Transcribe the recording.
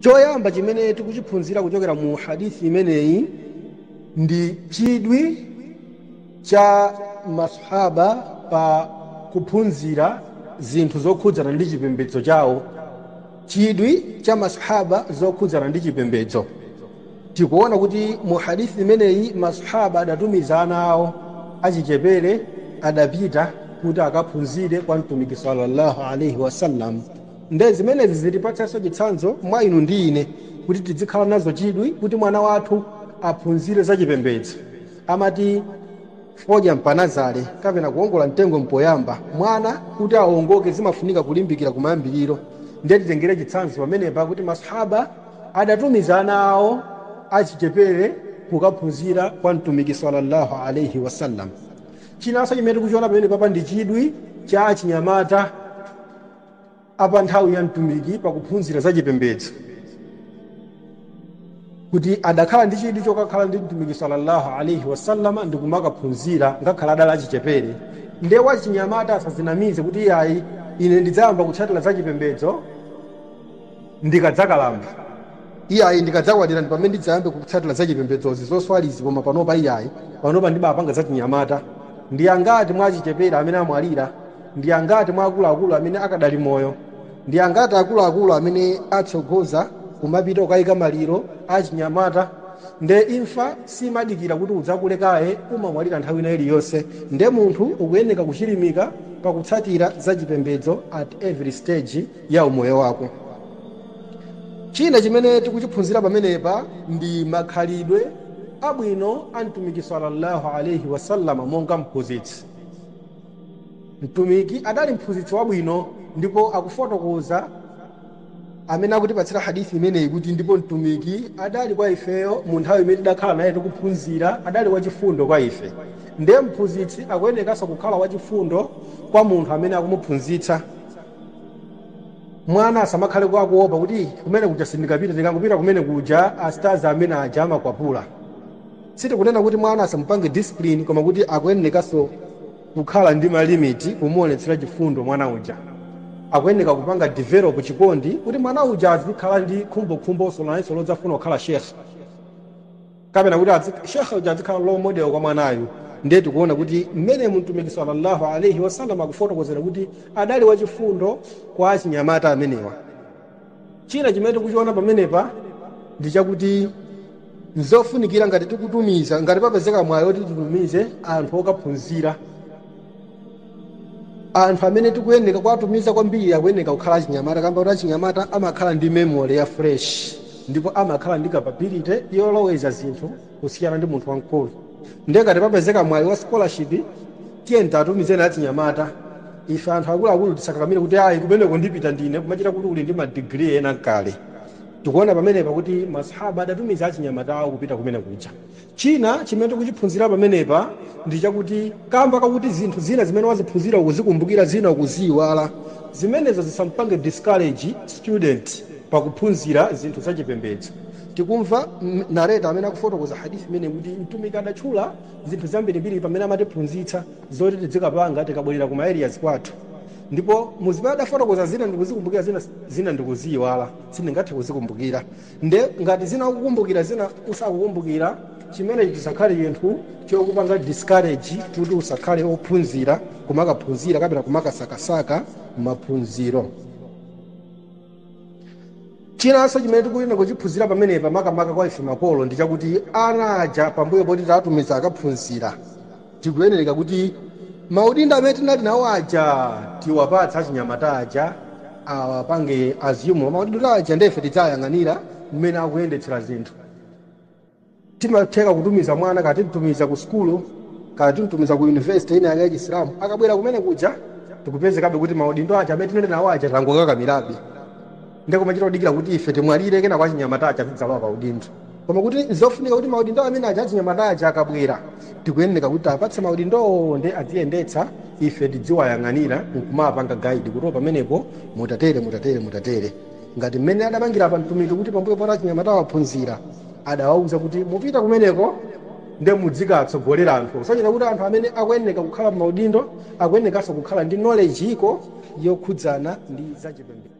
choyamba chimene tikuchiphunzira kuchokera mu hadithi imeneyi ndi chidwi cha masahaba pa kuphunzira zinthu zokhudzana ndi chipembedzo chawo chidwi cha masahaba zokhudzana ndi chipembedzo tikuona kuti mu hadithi imeneyi masahaba adatumiza ana awo achichepere adapita kuti akaphunzire kwa mtumiki sallallahu alaihi wasallam Nde zimenezi zitipatsenso chitsanzo mwa inu ndi ine kuti tidzikhala nazo chidwi kuti mwana wathu aphunzire za chipembedzo. Amati fodya mpanazale kapena kuongola mtengo mpoyamba. Mwana kuti aongoke zimafunika kulimbikira kumayambiriro. Nde titengere chitsanzo pamenepa kuti Masahaba adatumiza ana awo achichepere kukaphunzira kwa Mtumiki salla Allah alaih wasallam. Chinanso chimene tikuchiona pamenepapa ndi chidwi cha achinyamata. a pa nthawi ya Mtumiki pa kuphunzira za chipembedzo kuti adakhala ndi chidwi chokakhala ndi Mtumiki sallallahu alaihi wasallama ndi kumakaphunzira ngakhale adali achichepere. Ndiye wachinyamata asadzinamize kuti iyayi ine ndidzayamba kutsatira za chipembedzo ndikadzakalamba. Iyayi ndikadzakwatira ndi pamene ndidzayambe kutsatira za chipembedzozi zoswalizi koma panopa iyayi, panopa ndibapanga zachinyamata. Ndi angati mwa achichepere amene amwalira? ndi angati mwa akuluakulu amene akadali moyo ndi angati akuluakulu amene atsogoza kumapita kukayika maliro achinyamata nde imfa simadikira kuti udzakule kaye umamwalira nthawi ina iliyonse nde munthu ukuyeneka kuchilimika pakutsatira za chipembedzo at every stage ya umoyo wako china chimene tikuchiphunzira pamenepa ndi makhalidwe abwino a mtumiki sallallahu alaihi wasallama monga mphunzitsi Mtumiki adali mphunzitsi wabwino ndipo akufotokoza amene akutipatsira hadith imeneyi kuti ndipo Mtumiki adali kwa ifeyo mu nthawi imene tidakhala naye tikuphunzira adali wachifundo kwa ife ndiye mphunzitsi akuyenekanso kukhala wachifundo kwa munthu amene akumuphunzitsa. Mwana asamakhale akuopa kuti kumene kuja sindingapite ndikangopita kumene kuja astazi amene aja amakwapula. Sitikunena kuti mwana asamupange discipline koma kuti akuyenekanso kukhala ndi ma limit kumuonetsera chifundo mwana uja. Akuyeneka kupanga develop chikondi kuti mwana uja azikhala ndi khumbokhumbo nayenso lodzafuna kukhala Sheikh kapena kuti adzi Sheikh uja adzikhala role model kwa mwanayu. Ndiye tikuona kuti mmenemu Mtumiki salla Allah alaih wasallam akufotokozeredwa kuti adali wachifundo kwa achinyamata amenewa. China chimene tikuchiona pamenepa ndi chakuti n'zofunikira ngati tikutumiza, ngati papezeka mwayi woti titumize anthu okaphunzira, anthu amene tikuyenereka kuwatumiza kwambiri akuyenereka kukhala achinyamata kamba koti achinyamata amakhala ndi memory ya fresh ndipo amakhala ndi capability yoloweza zinthu kusiyana ndi munthu wamkulu nde ngati papezeka mwayi wa scholarship tiyeni tiwatumizeni achinyamata ife anthu akuluakulu tisakakamire kuti ayi kumeneko ndipita ndine kumachita kuti uli ndi ma degree ena nkale tikuona pamenepa kuti masahaba adatumiza achinyamata awo kupita kumene kuja china chimene tikuchiphunzira pamenepa ndi chakuti kamba kakuti zinthu zina zimene waziphunzira ukuzikumbukira zina ukuziyiwala zimenezo zisampange discourage student pakuphunzira zinthu zachipembedzo tikumva narrator amene akufotokoza hadith imeneyi kuti mtumiki adatchula zinthu zambirimbiri pamene amatiphunzitsa zoti tidzikapanga tikabwerera ku ma areas kwathu ndipo muzimene adafotokoza zina ndikuzikumbukira zina ndikuziyiwala sindingathe kuzikumbukira nde ngati zina ukukumbukira zina usakukumbukira chimenechi chisakhale chinthu chokupanga discourage kuti usakhale ophunzira kumakaphunzira kapena kumakasakasaka maphunziro chinanso chimene tikuyenera kuchiphunzira pamenepa makamaka kwa ife makolo ndi chakuti ana aja pambuyo poti tawatumiza akaphunzira tikuyenereka kuti maudindo amene tinali nawo aja tiwapatsa achinyamata aja awapange assume maudindo aja ndefe tidzayang'anira mmene akuyendetsera zinthu Timatheka kutumiza mwana, kaya timtumiza ku sukulu, kaya timtumiza ku university ina yake ya Chisilamu, akabwera kumene kuja tikupezekabe kuti maudindo aja amene tinali nawo aja tangokakamirabe. Nde kumachita kudikira kuti ife timwalire kenako achinyamata aja azidzalowa pa udindo. Koma kuti nzofunika kuti maudindo amene aja achinyamata aja akabwera tikuyenera kuti tiwapatse maudindowo nde adziyendetsa ife tidziwayang'anira nkumawapanga guide kuti pamenepo mutatere, mutatere, mutatere. ngati mmene adapangira apa mtumiki kuti pambuyo poti achinyamata awa aphunzira adawauza kuti mupita kumeneko nde mudzikawatsogolera anthu osonyeza kuti anthu amene akuyeneka kukhala mmaudindo akuyenekanso kukhala ndi knowledge iko yokhudzana ndi zachipembedzo.